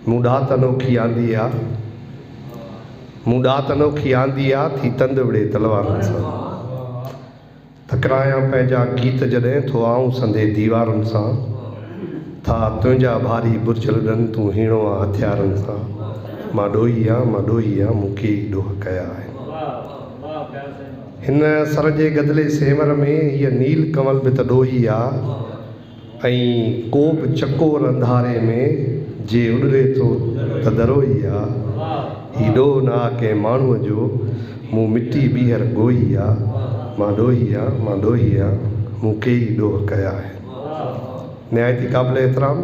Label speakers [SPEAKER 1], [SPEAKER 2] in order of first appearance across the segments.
[SPEAKER 1] مون ڏات انوکي آندي آ، مون ڏات انوکي آندي آ، ٿي تند وڙهي تلوارن سان. تڪرايان پنهنجا گيت جڏهن، ٿو آئون سندي ديوارن سان. ٿا تنهنجا ڀاري برج لڏن، تون هيڻو آ هٿيارن سان. مان ڏوهي آ، مان ڏوهي آ، مون ڪيئي ڏوهه ڪيا آهن. هن سر جي گدلي سينور ۾، هيء نيل ڪنول به ته ڏوهي آ. ۽ ڪو به چڪور انڌاري ۾، جي اڏري ٿو ته درو ئي آ. هي ڏوهه نه آ ڪنهن ماڻهوء جو، مون مٽي ٻيهر ڳوهي آ. مان ڏوهي آ، مان ڏوهي آ، مون ڪيئي ڏوهه ڪيا آهن. نهايت ئي قابل احترام.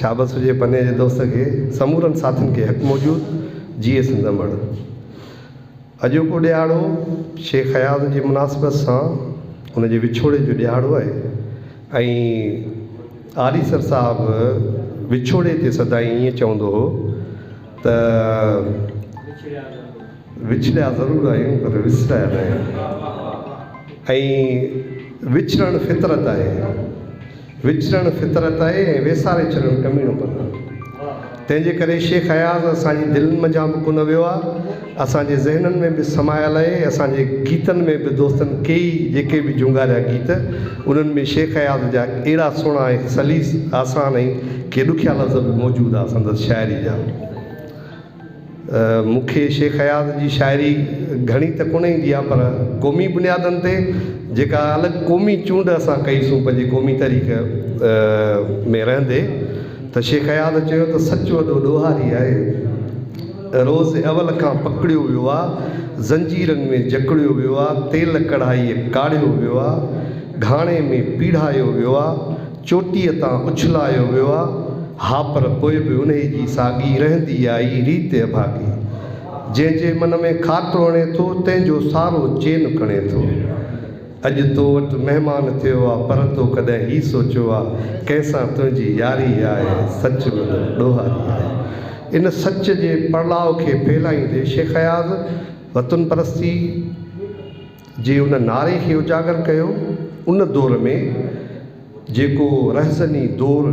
[SPEAKER 1] شابس هجي پني جي دوست کي، سمورن ساٿين کي حق موجود، جيئي سنڌ امڙ. اڄوڪو ڏيهاڙو شيخ اياز جي مناسبت سان ان جي وڇوڙي جو ڏيهاڙو آهي ۽ آريسر صاحب وڇوڙي تي سدائين ائين چوندو هو ته. وڇڙيا ضرور آهيون پر وسرايا ناهيون ۽ وڇڙڻ فطرت آهي وڇڙڻ فطرت آهي ۽ ويساري ڇڏڻ ڪميڻو پن آهي تنهن جي ڪري شيخ اياز اسان جي دلين منجهان به ڪونه ويو آهي اسان جي ذهنن ۾ به سمايل آهي اسان جي گيتن ۾ به دوستن ڪيئي جيڪي به جهونگاريا گيت انهن ۾ شيخ اياز جا اهڙا سهڻا ۽ سليس آسان ۽ ڪي ڏکيا لفظ به موجود آهي سندس شاعري جا مون کي شيخ اياز جي شاعري گهڻي ته ڪونه ايندي آهي پر قومي بنيادن تي جيڪا الڳ قومي چونڊ اسان ڪئي سو پنهنجي قومي تحريڪ ۾ رهندي ته شيخ اياز چيو ته سچ وڏو ڏوهاري آهي روز اول کان پڪڙيو ويو آهي زنجيرن ۾ جڪڙيو ويو آهي تيل ڪڙهائيء ڪاڙهيو ويو آهي گهاڻي ۾ پيڙهايو ويو آهي چوٽيء تان اڇلايو ويو آ، ها پر پوء به انهيء جي ساڳي رهندي آئي ريت اڀاڳي. جنهن جي من ۾ خاڪ وڻي ٿو، تنهن جو سارو چين کڻي ٿو. اڄ تو وٽ مهمان ٿيو آ، پر تو ڪڏهن هي سوچيو آ، ڪنهن سان تنهنجي ياري آهي، سچ به نه، ڏوهاري آهي. ان سچ جي پڙلاء کي ڦهلائيندي شيخ اياز وطن پرستي، جي ان نعري کي اجاگر ڪيو ان دور ۾ جيڪو رهزني دور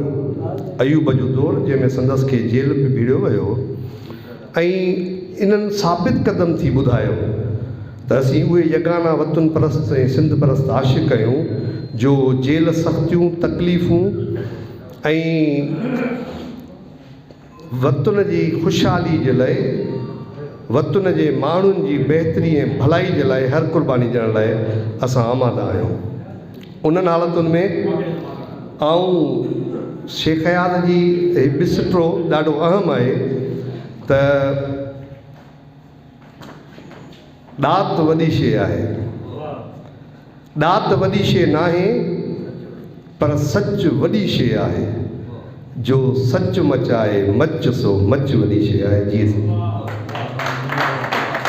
[SPEAKER 1] ايوب جو دور جنهن ۾ سندس کي جيل به ڀيڙيو ويو ۽ انهن ثابت قدم ٿي ٻڌايو ته اسين اهي يگانه وطن پرست ۽ سنڌ پرست عاشق آهيون جو جيل سختيون تڪليفون ۽ وطن جي خوشحالي جي لاء، وطن جي ماڻهن جي بهتري ۽ ڀلائي جي لاء هر قرباني ڏيڻ لاء اسان آماده آهيون. انهن حالتن ۾ آئون شيخ اياز جي هي بسٽرو ڏاڍو اهم آهي ته. ڏات وڏي شيء آهي. ڏات وڏي شيء ناهي پر سچ وڏي شيء آهي. جو سچ مچائي مچ سو مچ وڏي شيء آهي. جيئي سنڌ.